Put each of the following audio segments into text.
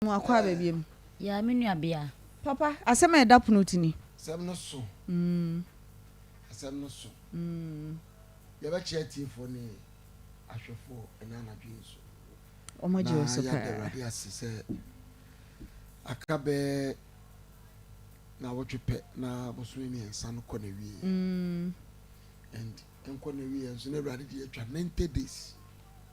Ɔbaa no akɔ aba biam. Yaa me nua bea. Papa, asɛm a ɛda pono ti ni. Asɛm no so. Mm. Asɛm no so. Mm. Yɛbɛkyerɛ atiefoɔ ne ahwɛfoɔ ɛnɛ anadwo yi nso. Wɔn agye wɔ so paa. Na yɛada Awurade ase sɛ aka bɛɛ na wɔtwe pɛ na bosome mmiɛnsa no kɔ n'awieɛ. Mm. And nkɔ n'awieɛ nso na Awurade de atwa ninety days.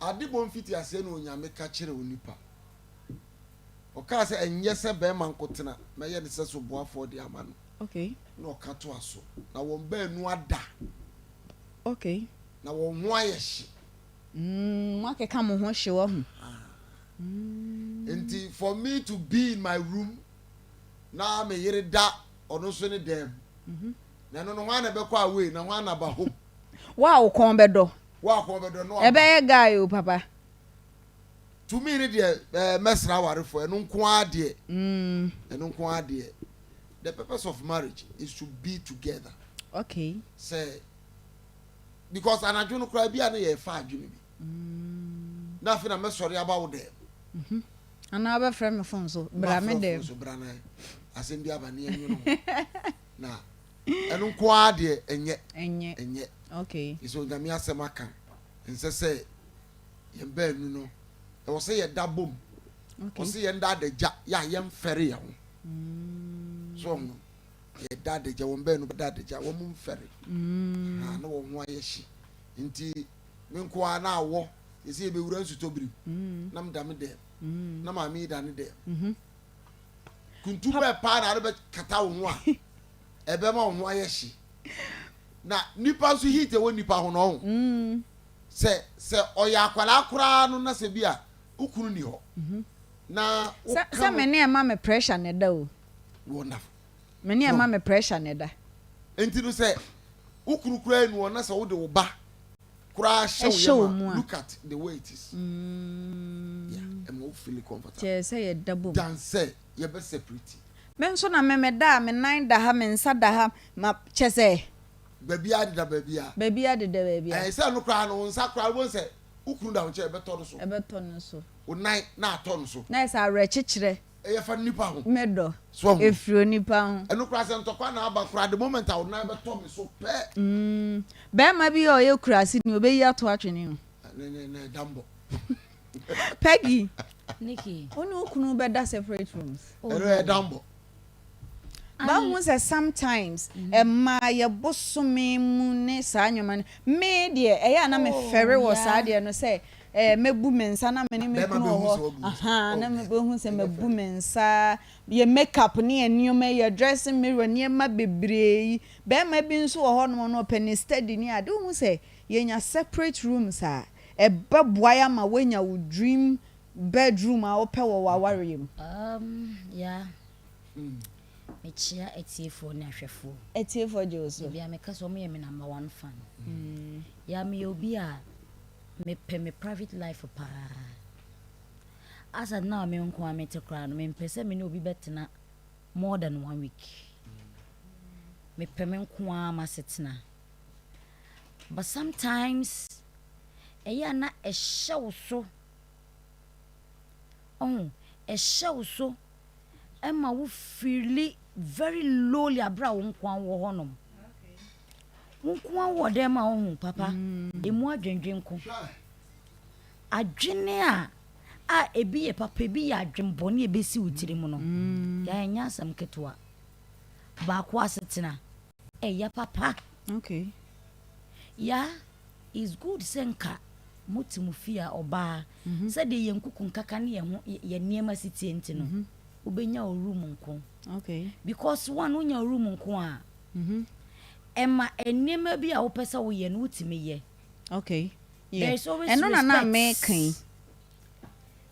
Ade bɔ mfitiaseɛ na Onyame ka kyerɛ onipa. Ɔkaa sɛ, Ɛnyɛ sɛ bɛɛma nkotena, mɛyɛ no sɛ soboafoɔ de ama no. Okay. Na ɔka toa so, Na wɔn baanu ada. Okay. Na wɔn ho ayɛ hye. Mm, moakeka mo ho hye wahu. Mm. Enti for me to be in my room, na me yere da ɔno nso ne dan mu. Mm -hmm. Na ɛno no, hwan na ɛbɛkɔ away, na hwan na aba home? Wo a wo kɔn bɛdɔ, Ɛbɛyɛ guy o papa. To me no deɛ ɛɛ mɛsra awarefoɔ ɛno nko ara deɛ ɛno nko ara deɛ the purpose of marriage is to be together okay sɛ because anadwo no koraa bi a na yɛrefa adwene bi na afei na mɛsɔre aba wo dɛm mhm. anaa wobɛfrɛ me fon so bra me dɛm asɛm bi aba ne ɛnwono na ɛno nko ara deɛ ɛnyɛ ɛnyɛ ɛnyɛ okay ɛsɛ onyame asɛm aka ɛnsɛ sɛ yɛn baanu no ɛwɔ sɛ yɛda bom okay ɔsɛ yɛn da adagya yɛ a yɛn fɛre yɛn ho mm. so ɔmo yɛ da adagya wɔn baanu bɛ da adagya wɔn mo nfɛre mm. ha na wɔn ho ayɛ hye nti me nko ara na awɔ yɛsɛ yɛbɛwura nsutɔ biri mm. na meda me dɛm mm. na maame yi da ne dɛm mm -hmm. Kuntu bɛn paa na ade bɛkata wo ho a ɛbɛma wo ho ayɛ hye? Na nipa nso heat ɛwɔ nipa ho no ɔho. Mm. Sɛ sɛ ɔyɛ akwadaa koraa no na sɛ bi a wo kunu ni hɔ. Mm -hmm. Na wo ka no. Sɛ me ne ɛma me pressure na ɛda o. Wonderful. Me ne ɛma me pressure na ɛda. Nti no sɛ wo kunu koraa ni hɔ na sɛ wo de wo ba koraa hyɛ wo yam a, look at the way it is. Yeah, ɛma wo feel comfortable. Kyerɛ sɛ yɛda bom. Than sɛ yɛbɛ separate. Me nso na me me da a, me nan da ha, me nsa da ha, ma kyɛ sɛ. Baabiara deda baabiara. Baabiara deda baabiara. Ɛɛ sɛ ɛno koraa no, wo nsa koraa wobɛhu sɛ wo kunu da wo nkyɛn a, ɛbɛtɔ no so. Ɛbɛtɔ no so. Wo nan na atɔ no so. Na ayɛ sɛ awerɛkyekyerɛ. Ɛyɛ fa nnipa ho. Me dɔ. So wahu. Ɛfiri onipa ho. Ɛno koraa sɛ ntɔkwa na aba koraa the moment a wo nan bɛtɔ me so pɛ. Mm bɛɛma bi a ɔyɛ kurase ni ɔbɛyi ato atwene o. Ne ne ne da mbɔ. Peggy, Nikki, wo ne wo kunu bɛda separate rooms. Ɛno ɛyɛ da mbɔ. Mahu sɛ sometimes ɛmaa yɛ bosome mu ne saa nneɛma no. Me deɛ ɛyɛ a na me fɛre wɔ saa deɛ no sɛ mɛbu me nsa na me ne me kunu wɔ hɔ ahaa na mɛbɛhu sɛ mabu me nsa yɛ make up ne yɛ nneɛma yi yɛ dressing mirror nneɛma bebree yi bɛɛma bi nso wɔ hɔ nom no ɔpɛ ne study ne ade wohu sɛ yɛnya separate rooms a ɛbɛboae ama woanya wo dream bedroom a wopɛ wɔ w'awareɛ mu. Um, yeah. Mekyia atiefoɔ ne ahwɛfoɔ. Atiefoɔ gye wo so. Ebia meka sɛ wɔn yɛ me number one fan. Mm. Ya meyɛ obi a mepɛ me private life paa. Asa na me nko a mete koraa no mempɛ sɛ me ne obi bɛtena more than one week. Mepɛ me nko a m'asetena. But sometimes ɛyɛ a na ɛhyɛ wo so. Ɔho ɛhyɛ wo so. ɛma wo feeli very lowly abere a wo nko ara wɔ hɔnom wo nko ara wɔ dɛm a wohu papa mm. emu adwendwen ko adwene a a ebi yɛ papa ebi yɛ adwenbɔne ebesi wo tirim no mm. yɛnyɛ asɛm ketewa baako asetena Ɛyɛ papa. Okay. Ya is good sɛ nka mote mo fie a ɔbaa mm -hmm. sɛdeɛ yɛn nkuku nkaka ne yɛn ho yɛn nneɛma si tie nti no mm -hmm. wobɛnya wo room nko okay. because one wonya wo room nko a mm -hmm. ɛma nneɛma bi a wopɛ sɛ woyɛ no wotumi yɛ okay. yeah. there is always ɛno respect ɛno na na meka yi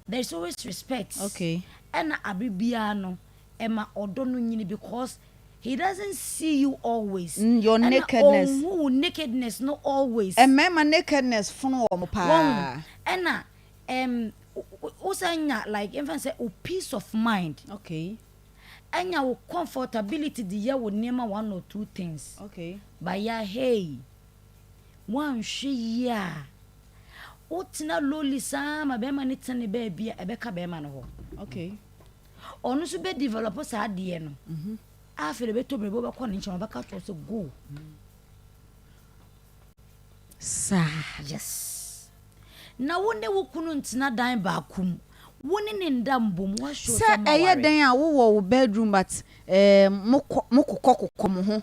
there is always respect okay ɛna abere biara no ɛma ɔdɔ no nyini because he doesn't see you always mm, your nakedness ɛna ɔnhu nakedness no always mmarima nakedness fono wɔn paa ɛna ɛm wosan nya like ɛmfa sɛ o peace of mind okay ɛnya wo comfortability de yɛ wo nneɛma one or two things okay but ya hey Woanhwɛ yie a, wotena lonely saa ma bɛrima no tene baabi a, ɛbɛka bɛrima no hɔ. Okay. Ɔno nso bɛ develop saa adeɛ no. Mhm. Afei de bɛtɔ biribi wobɛkɔ ne nkyɛn ɔbɛka kyerɛ sɛ go. Saa. Yes. Na wo ne wo kunu ntena dan baako mu. Wo ne ne nda mbom woahyɛ sɛ ɛyɛ dɛn a wowɔ wo bedroom but eh, mokɔ mokokɔ kokɔ mo ho.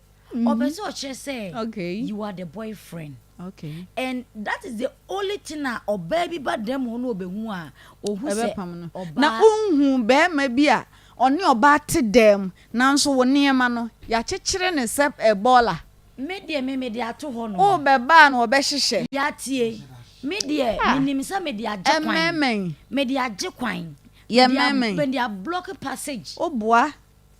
ɔpɛ mhm. sɛ ɔkyerɛ sɛ you are the boyfriend okay. and that is the only thing a ɔbaa bi ba dɛm hɔ na ɔbɛhu a ɔhu sɛ ɔbaa na ɔnhu bɛrima bi a ɔne ɔbaa te dɛm nanso wo nneɛma no yɛakyekyere ne sɛ ɛbɔɔla me deɛ me mede ato hɔ no wobɛbaa na ɔbɛhyehyɛ yɛatie me deɛ ah. menim sɛ mede agye kwan mede agye kwan yɛ mɛmɛn mede ablɔke passage woboa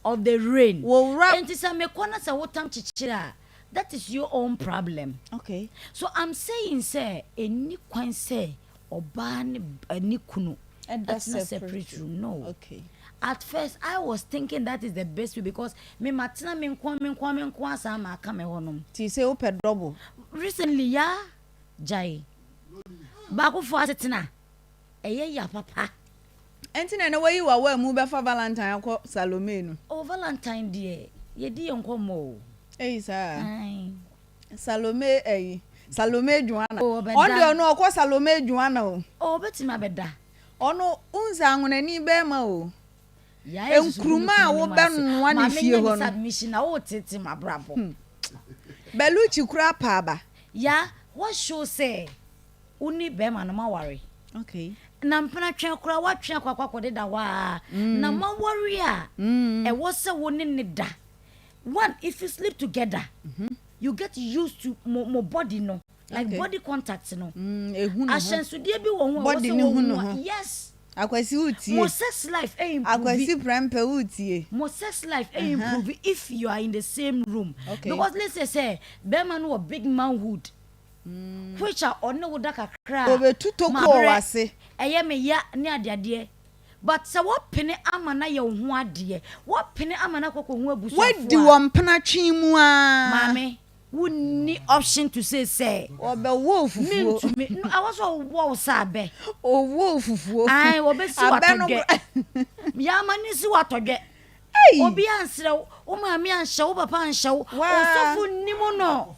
of the rain Wo wura. Enti sɛ me kɔ na sɛ wo tam kyekyere a that is your own problem Okay. So I'm saying sɛ ɛnni kwan sɛ ɔbaa ne ba ne kunu Ɛda atena separate room no Okay. At first I was thinking that is the best way because me matena me nkoa me nkoa me nkoa saa maka me hɔ nom. Nti sɛ wopɛ double. Recently ya gyae. Baako foɔ asetena ɛyɛ ya papa. Ɛnte na na woayi w'awaa mu bɛfa Valentine akɔ Salome no. Oh Valentine deɛ yɛdi yɛn nkɔmmɔ o. Ei saa. Ae. Salome ɛyi. Salome Joanna. Oh ɔbɛda. Ɔno deɛ ɔno ɔkɔ Salome Joanna o. Oh ɔbɛtumi abɛda. Ɔno wohu sɛ anwonani bɛɛma o. Yaa yɛ susu gu me Nkruma a kunu no mu ase. wobɛnoa no Maame fie nyɛ hɔ me no. submission na woretete m'abrabɔ. Belucci koraa paa ba. Yaa woahyoo sɛ. Wo ne bɛɛma no ma ware. Okay. Na mpena twɛn koraa watwe akɔ akɔ akɔ deda hɔ aa. Mm. Na ma ware a. Mm. Ɛwɔ sɛ wo ne ne da. One if you sleep together. Mm -hmm. You get used to mo mo body no. Like okay. body contact no. Mm, ehu no ho. Ahyɛnsodeɛ bi wɔ ho a wɔ sɛ wɔ hu a. Yes. Akwasi wutie. Mo sex life ɛ eh, improve. Akwasi prɛmpɛ wutie. Mo sex life ɛ eh, uh-huh. improve if you are in the same room. Okay. Because let's say sɛ bɛrima no wɔ big manhood. Which a ɔne wo da kakra a. Obetu tokoo wɔ w'ase. Ɛyɛ me ya ne adeadeɛ. But sɛ wɔpene ama no ayɛ wo ho adeɛ. Wɔpene ama no akɔ akɔ hu abusuafoɔ a. Wadi wɔ mpena twe mu aa. Maame, wo nni option to say sɛ. Wɔbɛwɔ wo fufuo. Me ntumi. No, ɛwɔ sɛ wɔwɔ wo sɛ abɛ. Wɔwɔ wo fufuo. Ae, wɔbɛsi wo atɔdwɛ. Abɛ no kora. Yɛ ama no nsi wo atɔdwɛ. Ei! Obi ansrɛ wo, wo maame anhyɛ wo, papa anhyɛ wo, Waa! ɔsɔfo nnim no.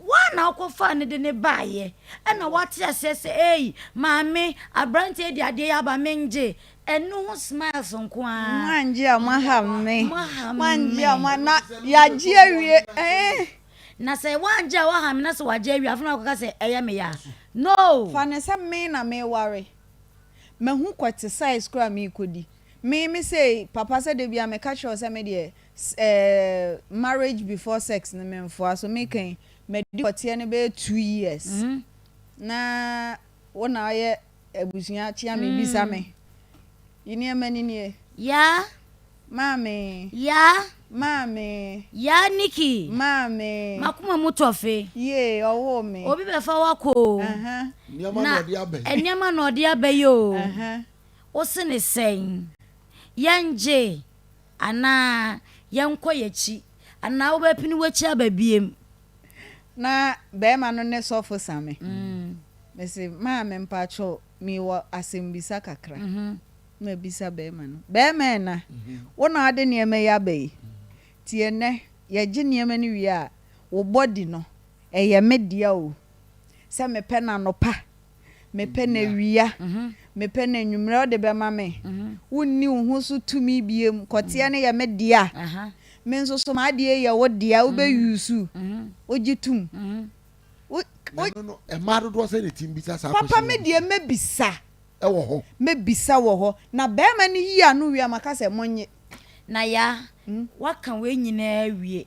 Woa na wokɔfaa no de no baeɛ. Ɛna woate aseɛ sɛ, ei, maame, aberanteɛ yi de adeɛ yi aba, mengye. Ɛno ho smiles nko ara. Moangye a, moaha me. Moaha me. Moangye a, moa, na yɛagye awie, eh. Na sɛ woangye a, woaha me, na sɛ wɔagye awie a, afei na woakɔka sɛ, ɛyɛ me ya. No! Fa no sɛ me na mereware. Mahu kɔ te size koraa a merekɔdi. Me me sei papa sɛ da bi a meka kyerɛ wo sɛ me deɛ eh, marriage before sex no me mfoa so me kan madi pɔteɛ no bɛyɛ two years na wo na ayɛ abusua kyea me bisa me yi nneɛma ni nie Yaa. maame Yaa. maame Yaa Nikki. maame M'akoma mu tɔ fe. yee ɔwoo me Obi bɛfa wo akɔ o. ɛhɛn Nneɛma na Na ɔde aba yi. nneɛma na ɔde aba yi o. ɛhɛn. Wo se ne sɛn? Yɛngye anaa yɛnkɔ y'akyi? Anaa wobɛpene w'akyi aba biem? Na barima no ne sɔfo sa me. Me se, Maame, mpakyɛ o, mewɔ asɛmmisa kakra. Na mabisa barima no, Barima Ɛna, wo na wode nneɛma yi aba yi? Nti ɛnnɛ yɛgye nneɛma no wie a, wo bɔdi no, ɛyɛ me dea o. Sɛ mepɛ no anɔpa Mepɛ no awia. Mepɛ no anwummere a wode bɛma me. Wonni wo ho so tumi biom. Kɔteɛ no yɛ me dea. Me nso so m'adeɛ yɛ wo dea. Wobɛ use wogye tom. Na ɛno no, mmaa dodoɔ sɛ na ɛti mbisa saa question yi? Papa me deɛ mɛbisa. Ɛwɔ hɔ. Mɛbisa wɔ hɔ. Na barima no yi ano wie a, maka sɛ monnye. Naya, woaka wei nyinaa awie.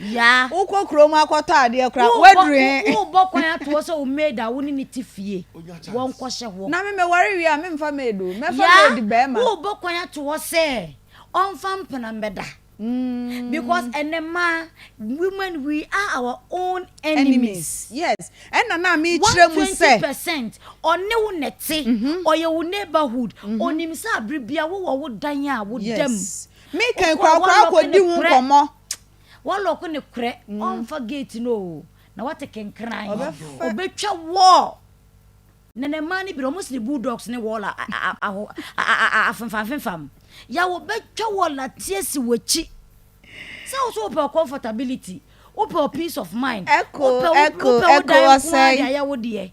Yaa. Wokɔ kurom akɔtɔ adeɛ koraa a, woaduru he? Wo, wo, wobɔ kwan ato hɔ sɛ wo maid a wo ne ne te fie, wɔnkɔhyɛ hɔ. Na me meware wie a, memfa maid o, mɛfa maid bɛɛma. Yaa, wobɔ kwan ato hɔ sɛ ɔmfa mpena mmɛda. Because ɛnnɛ mmaa, women, we are our own enemies. Yes, ɛna na mekyerɛ mu sɛ. 120 percent, ɔne wo na ɛte, ɔyɛ wo neighbourhood, onim sɛ abere biara wowɔ wo dan a woda mu. Yes, Me kan kura kura akɔ di ho nkɔmɔ. Wa lɔko ne korɛ ɔnfa gate no o na wate kenkran ɔbɛtwa wall na na mmaa ne bere ɔmo sini bulldogs ne wall aho afemfamfemfam ya wɔbɛtwa wall ateɛ si wɔkyi sɛ wo so wopɛ comfortability wopɛ peace of mind wopɛ wopɛ wo dan nko ara de ayɛ wo deɛ.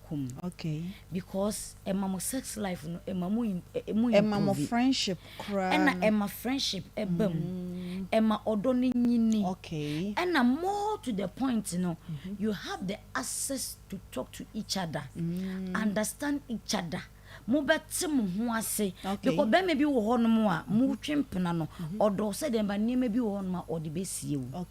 kum no okay because ɛma mo sex life no ɛma mo ɛmu improve ɛma mo friendship koraa ɛna ɛma friendship ɛba mu mm. ɛma ɔdɔ no nyini okay ɛna more to the point no mm-hmm. you have the access to talk to each other mm. understand each other mobɛte mo ho ase because bɛrima bi wɔ hɔnom a mm-hmm. motwe mpena no mm-hmm. ɔdɔ sɛ deɛ ba nneɛma bi wɔ hɔnom a ɔde bɛsie wo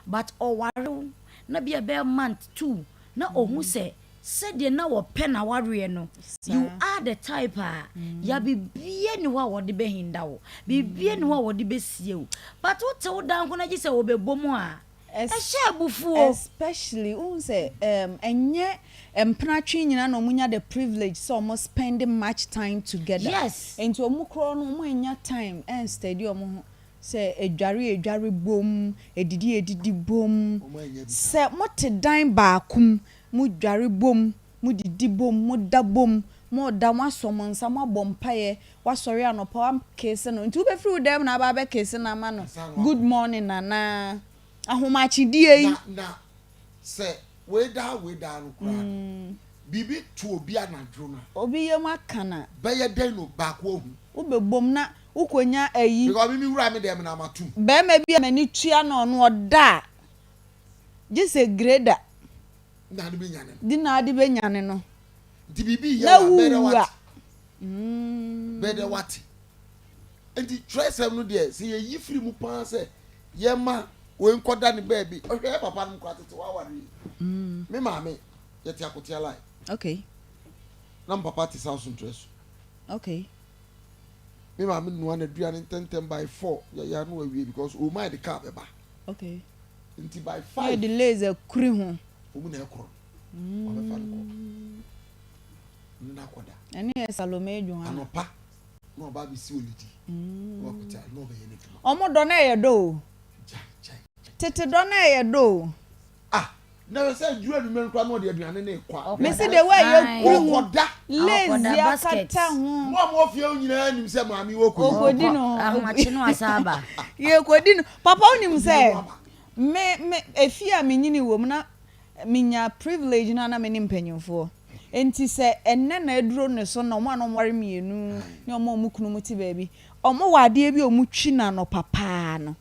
but ɔware wo na bia bɛyɛ month two na ohu sɛ sɛdeɛ na wɔpɛ n'awareɛ no, you are the type a, ya biribiara nni hɔ a wɔde bɛhinda wo, biribiara nni hɔ a wɔde bɛsie wo, but wote wo danko no agye sɛ wɔbɛbɔ mu a, ɛhyɛ abufuo. Especially, wohu sɛ um ɛnyɛ mpenatwe nyinaa na wɔnya the privilege sɛ wɔn spend much time together, Yes. nti wɔn korɔ no wɔn annya time ɛnsteady wɔn ho. sɛ edware a edware bom, edidi a edidi bom, sɛ mote dan baako mu, modware bom, modidi bom, moda bom, moda, moasɔ mo nsa, moabɔ mpaeɛ, woasɔre anɔpa, woakeese no, nti wobɛfiri wo dan mu na aba abɛkeese no ama no good morning anaa? Ahomakyedeɛ yi. Na, na sɛ wei daa wei daa no koraa no, biribi to obi anadwo no a. Obi yam aka no a. Bɛyɛ dɛn na baako ahu? Wobɛbom na. Wo kɔ nya ayi. Because me me wura me dɛm na ma tum. Bɛɛma bi a m'ani tua no ɔno ɔda a gye sɛ greda. Na de bɛ nyane no. De na de bɛ nyane no. Nti biribi yɛ wa bɛdɛ wate. Bɛdɛ wate. Nti twerɛsɛm no deɛ sɛ yɛyi firi mu paa sɛ yɛma wei nkɔda ne baabi ɔhwɛ yɛ papa nom kora tete waware yi me maame yɛte akotea line okay na me papa te south ntrɛ so okay Me maame noa n'aduane ntɛntɛm by four yɛyɛ ano wawie because owu maa de car bɛba. Okay. Nti by five. Yɛ de lays akuri ho. Omu na ɛkorɔ. Wabɛfa no kɔ. Ne na akɔda. Ɛne yɛ Salome adwuma. Anɔpa na ɔba abɛsi olidi. Na wakuta na ɔbɛyɛ n'adwuma. Ɔmo dɔ na ɛyɛ dɔ o. Tete dɔ na ɛyɛ dɔ o. Ah, na hwɛ sɛ aduru anwummerɛ koraa na ɔde aduane no rekɔ a. Mese the way yɛkuru ho lazy akata ho. Mo a mowɔ fie nyinaa nim sɛ maame wɔkɔ yi. Ɔkɔdi no. Ahomakye no asa aba. Yɛkɔdi no. Papa wonim sɛ me me efie a menyini wɔ mu na menya privilege no a na me ne mpanyinfoɔ. Nti sɛ ɛnɛ na aduro ne so na wɔn a na wɔware mmienu ne wɔn a wɔn kunu mu te baabi, wɔwɔ adeɛ bi a wɔtwi no anɔpa paa no.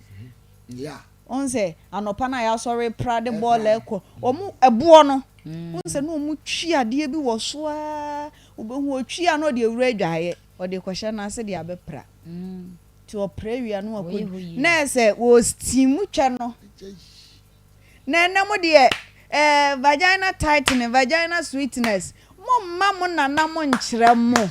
Yeah. Wohu sɛ anɔpa no a yɛasɔre repra de bɔɔl rekɔ, wɔn ɛboɔ no, wohu sɛ na wɔtwi adeɛ bi wɔ so ara, wobɛhu ɔtwi a na ɔde awura adwaeɛ, ɔde rekɔhyɛ no ase de abɛpra. Nti ɔpra wie a na wakɔ du. Na ɛyɛ sɛ wɔ steam twɛ no. Na ɛnnɛ mo deɛ eh, vagina tightening, vagina sweetness, momma mo nana mo nkyerɛ mo.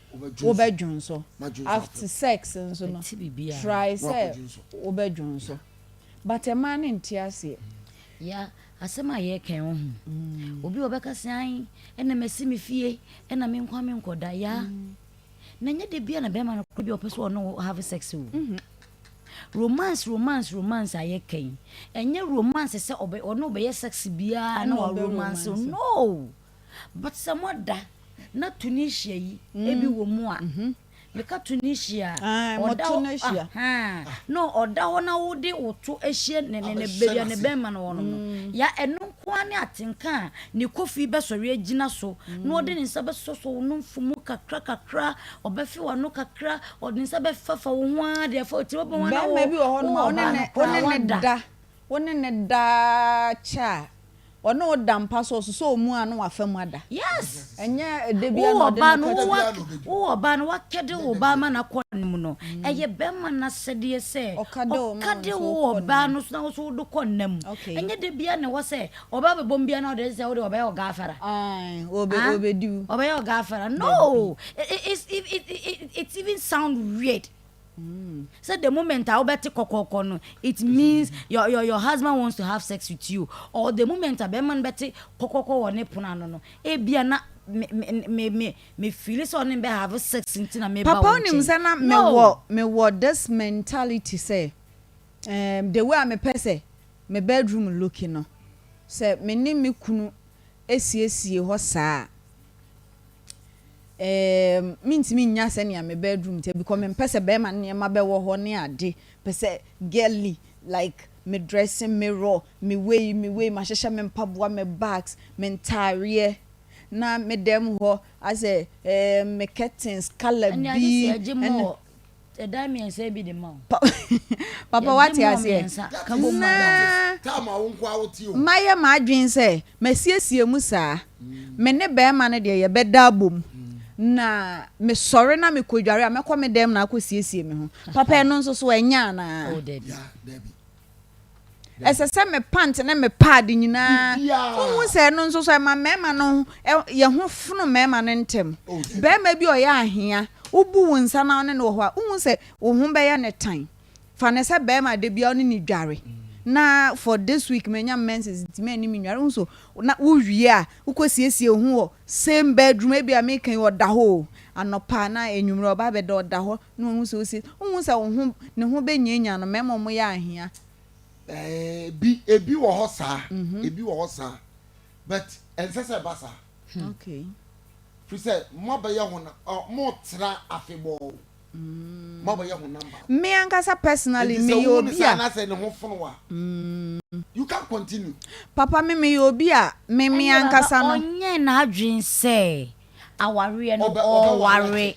wobɛdwonsɔ. Afte sex nso no try sɛ wobɛdwonsɔ but mmaa no nte aseɛ. Ya asɛm a yɛka yi wohu obi a ɔbɛka sɛ ae ɛna masi me fie ɛna me nkoa me nkɔda ya na nyɛ da bia na bɛrima no kɔ bi a ɔpɛ sɛ ɔne wo have sex o romance romance romance a yɛka yi ɛnyɛ romance sɛ ɔne wobɛyɛ sex biara na wa romance no but sɛ mo da na Tunisia yi ebi wɔ mu a meka Tunisia a ɔda hɔ na ɔda hɔ na wode wo to ahyia ne ne ne baabi a ne bɛrima no wɔ no no ya ɛno nko ara ne atenka a ne kofi bɛsɔre agyina so na ɔde ne nsa bɛsosɔ wo nomfo mu kakra kakra ɔbɛfe w'ano kakra ɔde ne nsa bɛfafa wo ho ara deɛ fa otiri bɛbɛn wɔn na wo wɔ ɔbaa no koraa wada Wo ne no daa kyɛ a, ɔne wo da mpa so, ɔsosɔ wo mu a na wafa mu ada. Yes! Ɛnyɛ da bi a na ɔde no kɔ kyɛ. Wowɔ ba no, wakɛde wo ba ama no akɔ ne mu no, ɛyɛ bɛrima no asɛdeɛ sɛ ɔkade wo wɔ ɔbaa no so na wo nso wode kɔ nna mu. Ɛnyɛ da biara na ɛwɔ sɛ ɔbaa bɛbɔ mu biara na ɔde sɛ wode ɔbɛyɛ ɔgaafɛra. Ɔbɛyɛ ɔgaafɛra. No! It even sound weird. Mm. So the moment I obeti kokoko no, it means your, your your husband wants to have sex with you. Or the moment I man beti kokoko wo ne pona no no, e bia na me me me me feel so ne be have sex nti na me ba wo. Papa onim se na me wo me wo this mentality se um the way me pɛ se me bedroom looking no se me ne me kunu esiesie hɔ saa Eeemm mentumi nnya sɛnea me bedroom teɛ bcos mempɛ sɛ bɛɛma nneɛma bɛwɔ hɔ ne ade, pɛ sɛ girly like me dressing mirror, me wei me wei mahyehyɛ me mpaboa me bags me ntaareɛ na me dɛm hɔ asɛ eeemm me curtains colour bi ɛna. Sɛ dan mmiɛnsa yi bi de ma o. Papa wate aseɛ? Na mayɛ m'adwene sɛ masiesie mu saa. Me ne barima no deɛ yɛbɛda abom na mesɔre na mekɔdware a mɛkɔ me dan mu na akɔsiesie me ho. Papa ɛno nso so ɛnyɛ anaa? Ɛsɛ sɛ me pant ne me paade nyinaa. Wohu sɛ ɛno nso so ɛma mmarima no yɛ ho fono mmarima no ntɛm. Oh, barima bi ɔyɛ ahea, wobu wo nsa na ɔne no wɔ hɔ a, wohu sɛ wo ho bɛyɛ ne tan. Fa ne sɛ barima da bia ɔne ne dware. Na for this week manya menses nti mɛni me nware. Wohu so na wowie a, wokɔsiesie wo ho wɔ same bedroom ebi a meka yi ɔda hɔ o. Anɔpa na enyimire ɔba bɛda ɔda hɔ. Na wahu sɛ ose, Wonhu sɛ wo ho, ne ho benyanyan no, mmarima a wɔyɛ ahia? Ɛɛ, ebi, ebi wɔ hɔ saa, ebi wɔ hɔ saa, but ɛnsɛ sɛ ɛba saa. Okay. Firi sɛ, moabɛyɛ honam, ɔ, moretra afebɔɔ, moabɛyɛ honam baako. Me ankasa personally, Enti sɛ meyɛ wohu no obi saa a. anaasɛ ne ho fono wo a, you can't continue. Papa, me meyɛ obi a, me, me Ɛnde, Papa, ankasa no. ɔnyɛɛ n'adwene sɛ awareɛ no ɔware.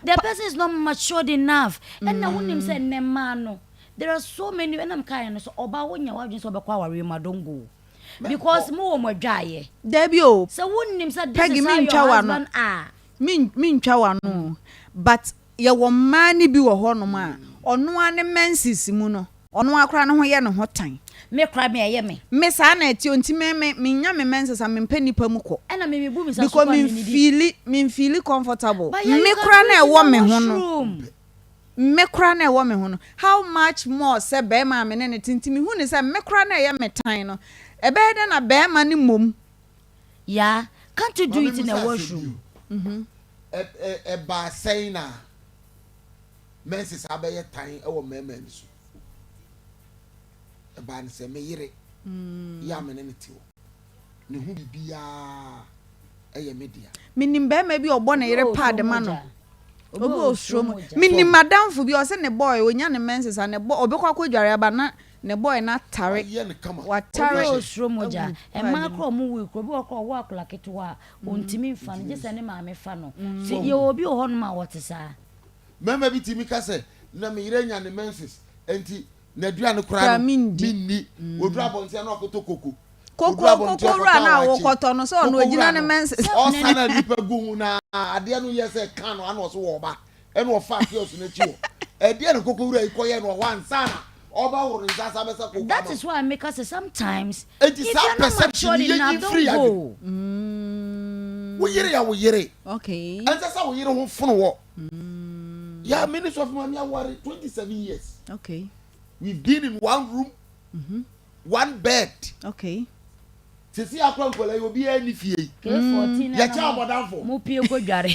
The person is not matured enough ɛna wonim sɛ nnɛ mmaa no there are so many ɛna mekaeɛ no sɛ ɔbaa wonya w'adwene sɛ ɔbɛkɔ awareɛ mu a don't go because mo wɔ mo adwaeɛ. Dabi o sɛ wonim sɛ this is how your husband are. Mentwa w'ano o but yɛwɔ mmaa no bi wɔ hɔnom a ɔno ara ne menses mu no Ɔno ara koraa ne ho yɛ ne ho tan. Me koraa me ɛyɛ me. Me saa na ɛteɛ o nti me me me nya me mɛnsesa me mpɛ nipa mu kɔ. Ɛna me me bu me sa so kwa me nidi. Because me feeli me feeli comfortable. But yeah you can breathe in the washroom. Me koraa na ɛwɔ me ho no how much more sɛ bɛɛma a me ne no te nti me hu no sɛ me koraa na ɛyɛ me tan no ɛbɛyɛ dɛn na bɛɛma no mmom. Yeah can't you do it in the washroom. Ɛbaa sɛn na. menses a abɛyɛ tan wɔ mmarima ani so. Ɛbaa no sɛ me yere mm. yɛ a me ne no te hɔ. Ne ho biribiara ɛyɛ me dea. Menim barima bi a ɔbɔ ne yere paade ma no. Obi wɔ osuro mu. Menim madamfo bi a ɔsɛ ne bɔɔe ɔnya ne menses a ne bɔ ɔbɛkɔ akɔ dware aba na ne bɔɔe no atare. Watare. Obi wɔ osuro mogya. Mmaa korɔ ɔmo wui korɔ obi wɔ korɔ ɔwɔ akwadaa ketewa a ɔntumi mm. nfa no gye sɛ ne maame fa no. Mm. Yɛwɔ obi wɔ hɔnom a ɔte saa. Mmarima bi tumi ka sɛ, Na me yere anya ne menses, enti n'aduane koraa no menni. Ɔduru abɔnten a na wakɔtɔ koko. Koko koko wura no a wokɔtɔ no, sɛ ɔno ɔgyina ne menses. Ɔsa na nnipa gu ho na adeɛ no yɛ sɛ ka no a na ɔse wɔreba. Ɛna ɔfaa kiosk no akyi hɔ. Ɛdeɛn na koko wura yi kɔyɛɛ no wɔ hɔ ansa na That is why me ka sɛ sometimes if you are not matured enough don't go. Mm. Wo yere ya wo yere. Okay. Ɛnsɛ sɛ wo yere ho fono wɔ. Mm. Yeah, me ne sɔfo maame aware 27 years. Okay. We've been in one room, mm -hmm. one bed. Okay. Sisi akora nkɔla yi obi ɛni fie yi. K14 na na mo pie kɔ dware.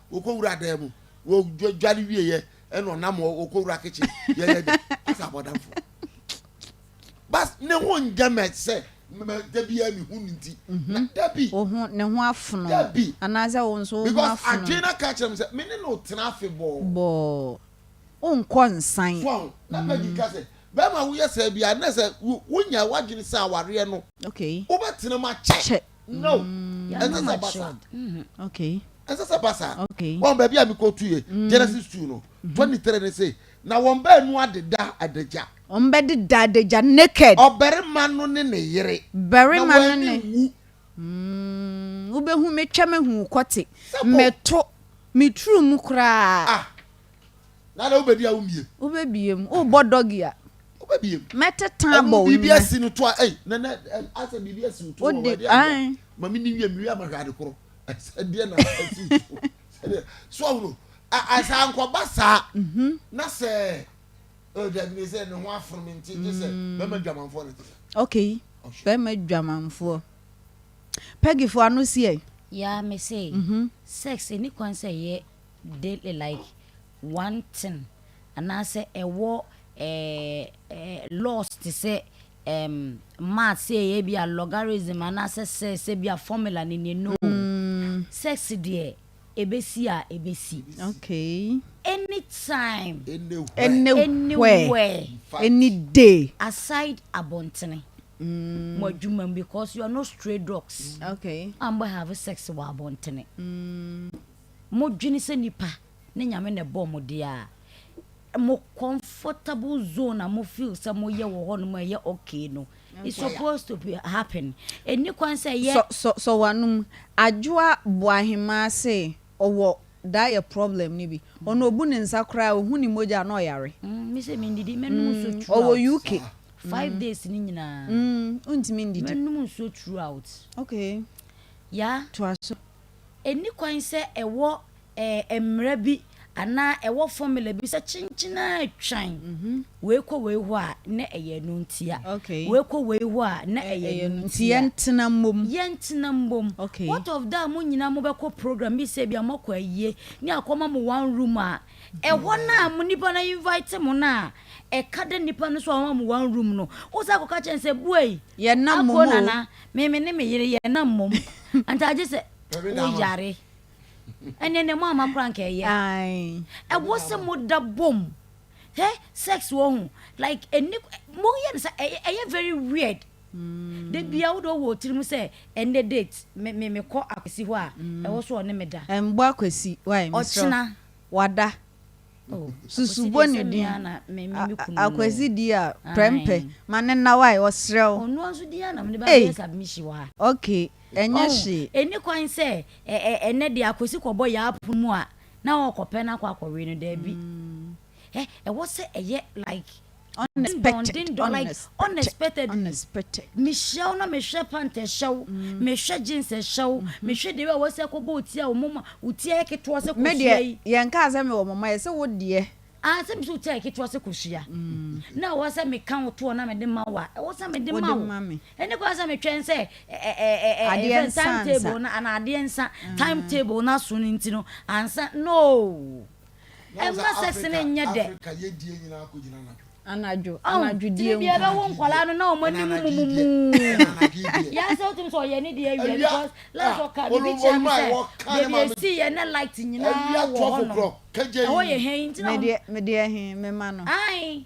Wɔkɔwura dan mu, wɔdware wieɛ ɛna ɔnam hɔ wɔkɔwura kitchen yɛyɛ dɛ asɛ abɔdamfo. Bas ne ho nyɛ mɛ sɛ mɛ da biara ne ho nti. Mhm. Da bi. Wo ho ne ho afono. Da bi. Anaasɛ wo nso wo ho afono. Because adwene na ka kyerɛ me sɛ me ne no tena afe bɔɔ. Bɔɔ. Wonkɔ nsan. Fɔn na Peggy mhm. ka sɛ bɛrima woyɛ saa biara na sɛ wonya w'adwene sɛ awareɛ no. Okay. Wobɛtena mu akyɛ. Kyɛ. no ɛnsɛ sɛ basa ɛnsɛ sɛ basa wɔn baabi a mekɔ tu yɛ mm. genesis two no mm-hmm. twenty three ne se na wɔn baanu adeda adagya wɔn bɛ deda adagya naked ɔbarima no ne ne yere barima no ne wu mm, wobɛhu metwa mehu kɔte mɛto meturu mu koraa ah. Nana wo bɛdi a wo mmiem. Wo bɛ biem. Wo bɔ dɔgi a. Wo bɛ biem. Mɛ te tan bɔ wo nyɛ. Biribi asi no to a ɛy nana asɛ biribi asi wo to wɔ ɛdi a. Ma mi ni wie mi wie ama hwɛ ade koro. Ɛsɛ deɛ na ɛsi to. Sɛdeɛ so ahoro asɛ ankɔba saa mhm. na sɛ ɛdabi ne sɛ ne ho aforo mi nti gye sɛ mm. bɛma dwamanfoɔ ne te sɛ. Okay bɛma dwamanfoɔ. Pɛgifoɔ ano si ɛ. Yaa me se mhm. sex ɛni kwan sɛ yɛ. de like one thing anaasɛ ɛwɔ laws te sɛ ɛɛm maths sɛ ɛyɛ bi a logarithm anaasɛ sɛ sɛ bi a formula ne neɛ no sex deɛ ɛbɛsi a ɛbɛsi Okay. anytime Anywhere. anywhere Any day. aside abɔntene mo adwuma mu because you are not stray dogs Okay. a mbɛ have sex wɔ abɔntene. Mo dwene sɛ nipa ne nyame na ɛbɔɔ mo deɛ a, mo comfortable zone a mo feel sɛ mo yɛ wɔ hɔ nom a ɛyɛ okay no, it's supposed to be happen. Ɛnni kwan sɛ ɛyɛ. Sɔ sɔ w'anom. Adwoa Boahemaa se ɔwɔ diet problem no bi. Ɔno obu ne nsa koraa a, ohu ne mogya a na ɔyare. Mm, me se mendidi, mɛnom nsuo Mm, ɔwɔ throughout. UK. Five Mm, days no nyinaa, mm, wontumi ndidi. mɛnom nsuo throughout. Okay, Yeah. toa so. ɛnni kwan sɛ ɛwɔ ɛɛ mmara bi anaa ɛwɔ formula bi sɛ kyenkyen ara twan mhm. wei kɔ wei hɔ a na ɛyɛ ɛno ntia wei kɔ wei hɔ a na ɛyɛ ɛno ntia yɛntena mmom yɛntena mmom what of that mo nyinaa mobɛkɔ program bi sɛ bi a moakɔ ayie ne akɔma mo one room a ɛhɔ no a mo nipa no invite mo no a ɛka da nipa no so a ɔma mo one room no wo sɛ akɔka kyɛn sɛ buai yɛnam mo Me me ne me yere yɛ na mmom anka agye sɛ woyare ɛnneɛ na mu ama kora nka ɛyɛ ɛwɔ sɛ moda bom hɛ sex wɔ ho like ɛni moyɛ no sɛ ɛyɛ very weird mm. da bia wode wɔ tirim sɛ ɛnɛ date mekɔ akwasi hɔ a mm. ɛwɔ so ɔne meda ɛmbɔ akwasi ɔkyena wada Oh, susu bɔ ne din. Akwasi di a prɛmpɛ ma ne nna wa ɔsrɛ wo. Ɔno nso di a na mede bɛyɛ submission wɔ ha. Okay, ɛnyɛ hye. Ɛni kwan sɛ ɛnɛ de akwasi kɔbɔ yɛ apo mu a na ɔkɔpɛ no akɔ akɔwe no daabi. Ɛwɔ sɛ ɛyɛ like. unexpected unexpected unexpected mehyia wo na mehwɛ pant ɛhyɛ wo mehwɛ mm. jeans ɛhyɛ wo mm-hmm. mehwɛ deɛ a wɔsɛ kɔbɔ ɔti a wɔmoma ɔti ayɛ ketewa sɛ kɔhyia yi yɛnkaa sɛ mewɔ moma yɛ sɛ wo deɛ ah, sɛ mesɛ ɔti ayɛ ketewa sɛ kɔhyia mm. na ɛwɔ sɛ meka wo toɔ na mede ma wo a ɛwɔ sɛ mede ma wo ɛne kora sɛ metwɛn sɛ time table na ana adeɛ nsa time table no aso no nti no ansa no Ɛmma sɛse no nyɛ dɛ. Anadwo, anadwo die nko. Tiri biara bɛwo nkwadaa no na wɔn anim mumumuu. Yɛn sɛ wotumi sɛ ɔyɛ ne deɛ awia because last ɔka bibi kyerɛ mu sɛ baabi esi yɛ na light nyinaa wɔ hɔ no. Ɛhɔ yɛ hɛn ntina. Me deɛ me deɛ he me ma no. Ayi.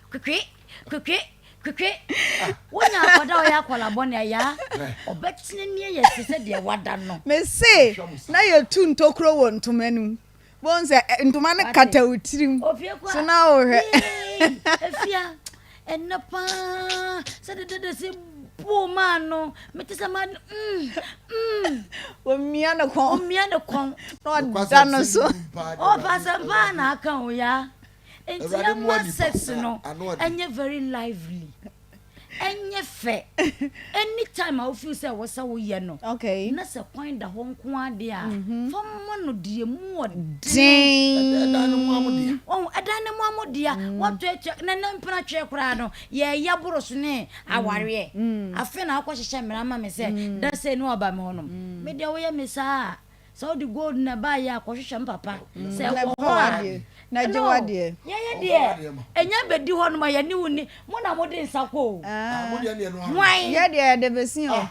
Kwekwe kwekwe kwekwe wo nya akɔda ɔyɛ akɔla bɔne ayaa ɔbɛtena nie yɛ te sɛ deɛ wada no. Mese na yɛtu ntokuro wɔ ntoma no mu bɔn sɛ eh, ntoma no kata wo tirim so na wohwɛ. Efia ɛnɛ paa sɛ de dede se buo maa no mete sɛ ma mm mm. Omia ne kɔn. Omia ne kɔn. Na ɔda no so. Ɔpasɛm paa na aka o yaa. Nti ɛma sex no ɛnyɛ very lively. Ɛnyɛ fɛ. Anytime a wo feel sɛ ɛwɔ sɛ woyɛ no, na sɛ kwan da hɔ nko ara deɛ a, mm-hmm. fa ma no deɛ ɛmu wɔ den. Ɛdan no mu amodea. Ɔn ɛdan no mu amodea. Mm. Wɔtwɛtwɛ na na mpena twɛ koraa no yɛyɛ boro so ne mm. awareɛ. Mm. Afei na akɔhyehyɛ mmara ma me sɛ dasɛ ne ɔba me hɔnom. Me deɛ woyɛ me saa a Sɛ wode gold na ɛbaeɛ a, kɔhwehwɛ me papa. Sɛ Na ɛwɔ fa hɔ a, w'adeɛ, na gye hello, w'adeɛ. yɛn yɛ deɛ, ɛnyɛ abɛdi hɔ nom a yɛne wo nni, mo na mode nsa kɔ o. Ah, mo deɛ ne ɛno ara. Hwan? Yɛ deɛ yɛde besin o.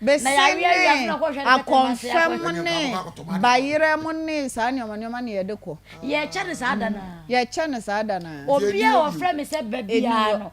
Na Besin yɛawe ne awia so na kɔhwɛ no bɛtɛm ase akɔmfɛm akɔhwɛ. Ɛnyɛ ne nkurɔfo baako tɔ ma de bayerɛ mo ne saa nneɛma nneɛma na yɛde kɔ. Yɛkyɛ no saa da no ara. Yɛkyɛ no saa da no ara. Deɛ ɛni Obiara a hɔ bio. ɔfrɛ me sɛ ba Ɛni biara hɔ. no,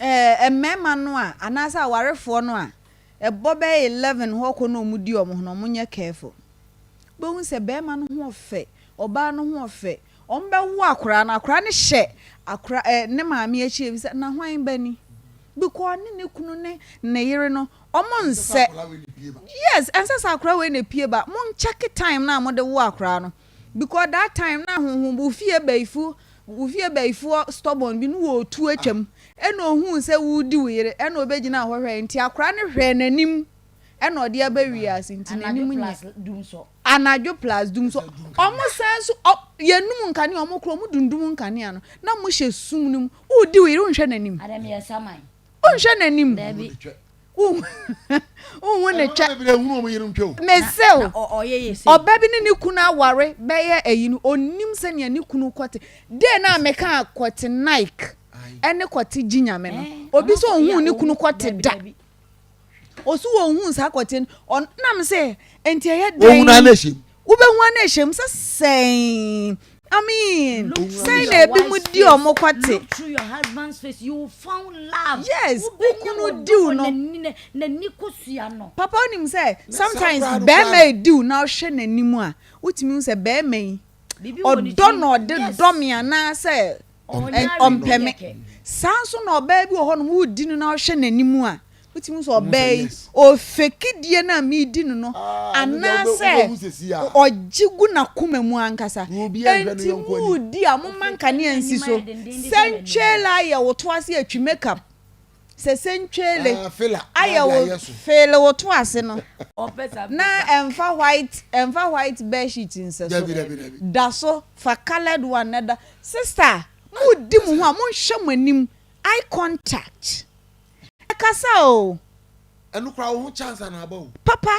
Ɛɛ, mmarima no a, anaasɛ awarefoɔ no a, ɛbɔ bɛyɛ eleven hɔ kɔ na wɔdi wɔn ho no, wɔnyɛ careful. Wobɛhu sɛ barima no ho ɔfɛ, ɔbaa no ho ɔfɛ, wɔbɛwo akwadaa no, akwadaa no hyɛ akwadaa ɛɛ, ne maame akyi, ɛbisa, na hwan ba ni? Because ɔne ne kunu ne ne yere no, wɔnsɛ. Yes, ɛnsɛ sɛ akwadaa wei na epue ba. Monkyɛke time no a mode wo akwadaa no. because that time na honhom wo fie bayifo wo fie bayifoɔ stubborn bi no wɔ otu atwam ɛna ohuu sɛ woredi wo yere ɛna ɔbɛgyinaa hɔ hwɛe nti akora no hwɛɛ n'anim ɛna ɔde aba wiase nti n'anim nyɛ anadwo plus dum so ɔmo san so yɛnum nkanea ɔmo kora ɔmo dundum nkanea no na mo hyɛ sum no mu woredi wo yere wonhwɛ n'anim wonhwɛ n'anim Wohu ne twɛ. Mese wo, ɔba bi ne ne kunu aware bɛyɛ ayi no, ɔnnim sɛnea ne kunu kɔte. Dee no a mekaa kɔte Nike ɛne kɔte gye nyame no, obi sɛ ɔhuu ne kunu kɔte da. Ɔso ɔhuu saa kɔte no, ɔnam sɛ, ɛnti ɛyɛ dɛn. Ɔhunu anɛhyɛ mu. Wobɛhua no ahyɛ mu sɛ sɛn. Amen. Sɛn na ebi mu di wɔn kɔte. Yes, wokunu diw no. Papa onim sɛ sometimes bɛrima ediw na ɔhwɛ n'anim a, wotumi hu sɛ bɛrima yi ɔdɔ na ɔde dɔ me anaasɛ. Ɔmpɛ me. Saa ara nso na ɔbaa bi wɔ hɔnom, woredi no na wohwɛ n'anim a, wotumi hu sɛ ɔbaa yi, ɔfeki die no a meredi no no, anaasɛ ɔgye gu n'akoma mu ankasa. Enti moredi a, momma nkanea nsi so. Sɛ ntwela ayɛ wo to ase atwi makeup Sɛ sentweele ayɛ wo feele wo to ase no na ɛnfa white ɛnfa white bed sheet nsɛ so da so fa coloured one na da sister mo di mo ho a mo nhwɛ mo anim eye contact ɛkasa o ɛno kora wo ho chance ana aba o papa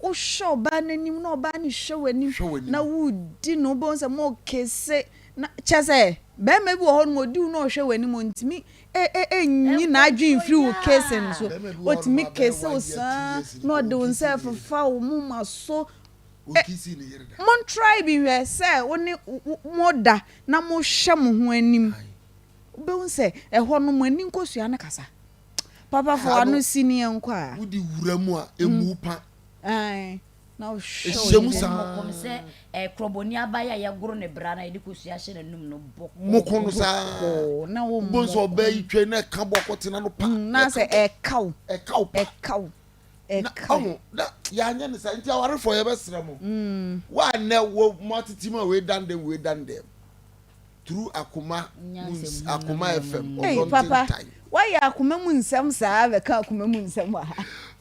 wohwɛ ɔbaa no anim na ɔbaa no hwɛ w'anim na wodi no wobɛhu sɛ mo kese na kyɛ sɛ bɛrima bi wɔ hɔ no ɔdi wo na ɔhwɛ w'anim ntumi nyi n'adwen mfiri wo case no so. Otumi kisse wo saa na ɔde wo nsa ɛfefa wo moma so. Mon try bi hwɛ sɛ wo ne mo da na mo hwɛ mo ho anim. Wobɛhu sɛ ɛhɔ no mo ani nkosua no kasa. Papa fa w'ano si ne yɛnkɔ a. Wodi wura mu a emu pa. Ae. Ɛhyehyɛ mu saa ara. Moko no saa ara. Wobɛhu sɛ ɔbaa yi twa yi na ɛka bɔ akɔtena no pa. Na sɛ ɛka wo. Ɛka wo pa. Ɛka wo. Ɛka wo. Na yɛanyɛ no saa nti awarefoɔ yɛbɛsrɛ mo. Wo a nnɛ wo mo atete mu a wei dan dɛm wei dan dɛm through akoma mu akoma FM ɔdɔnten tan. Ei papa woayɛ akoma mu nsɛm saa bɛka akoma mu nsɛm wɔ ha.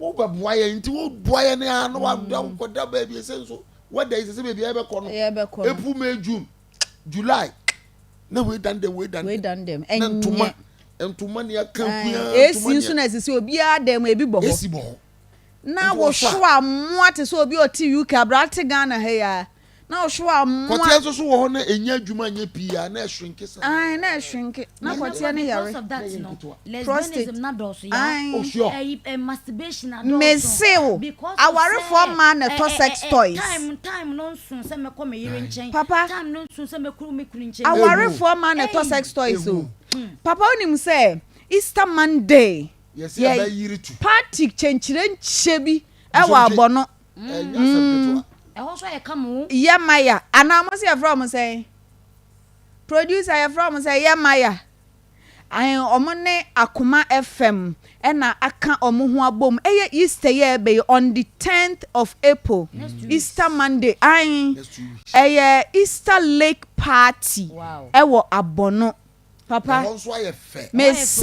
wobɛboa yɛn nti woboa yɛn a na wada mm. wokɔda baabi ɛsɛ nso wada yi sɛ sɛ baabi a yɛbɛkɔ no april may june july na wei dan dɛm wei dan dɛm na ntoma ntoma ni aka kua esi nso na esisi obiara dɛm ebi bɔ hɔ esi bɔ hɔ na wohwɛ a mmoa te sɛ obi ɔte uk aberante ghana ha yi a. na ɔhyew a mmoa. Kɔteɛ nso so wɔ hɔ na ɛnya adwuma nyɛ pii a na ɛshrinke saa. Ae na ɛshrinke na kɔteɛ no yare. Prostate ae. Mese wo awarefoɔ mmaa na ɛtɔ sex toys. Papa awarefoɔ mmaa na ɛtɔ sex toys o. Papa wonim sɛ Easter Monday yɛ party kyenkyerenkyɛ bi ɛwɔ abɔno. Mm. Ɛhɔ nso ayɛ kama o. Yɛ Maya anaa wɔn sɛ yɛfrɛ wɔn sɛn? Producer yɛfrɛ wɔn sɛ Yɛ Maya. Ahen wɔn ne Akoma FM ɛna aka wɔn ho abom. Ɛyɛ Easter yɛ ɛbɛ yi on the tenth of April. Easter Monday ahen ɛyɛ Easter Lake party ɛwɔ Abono. Papa mese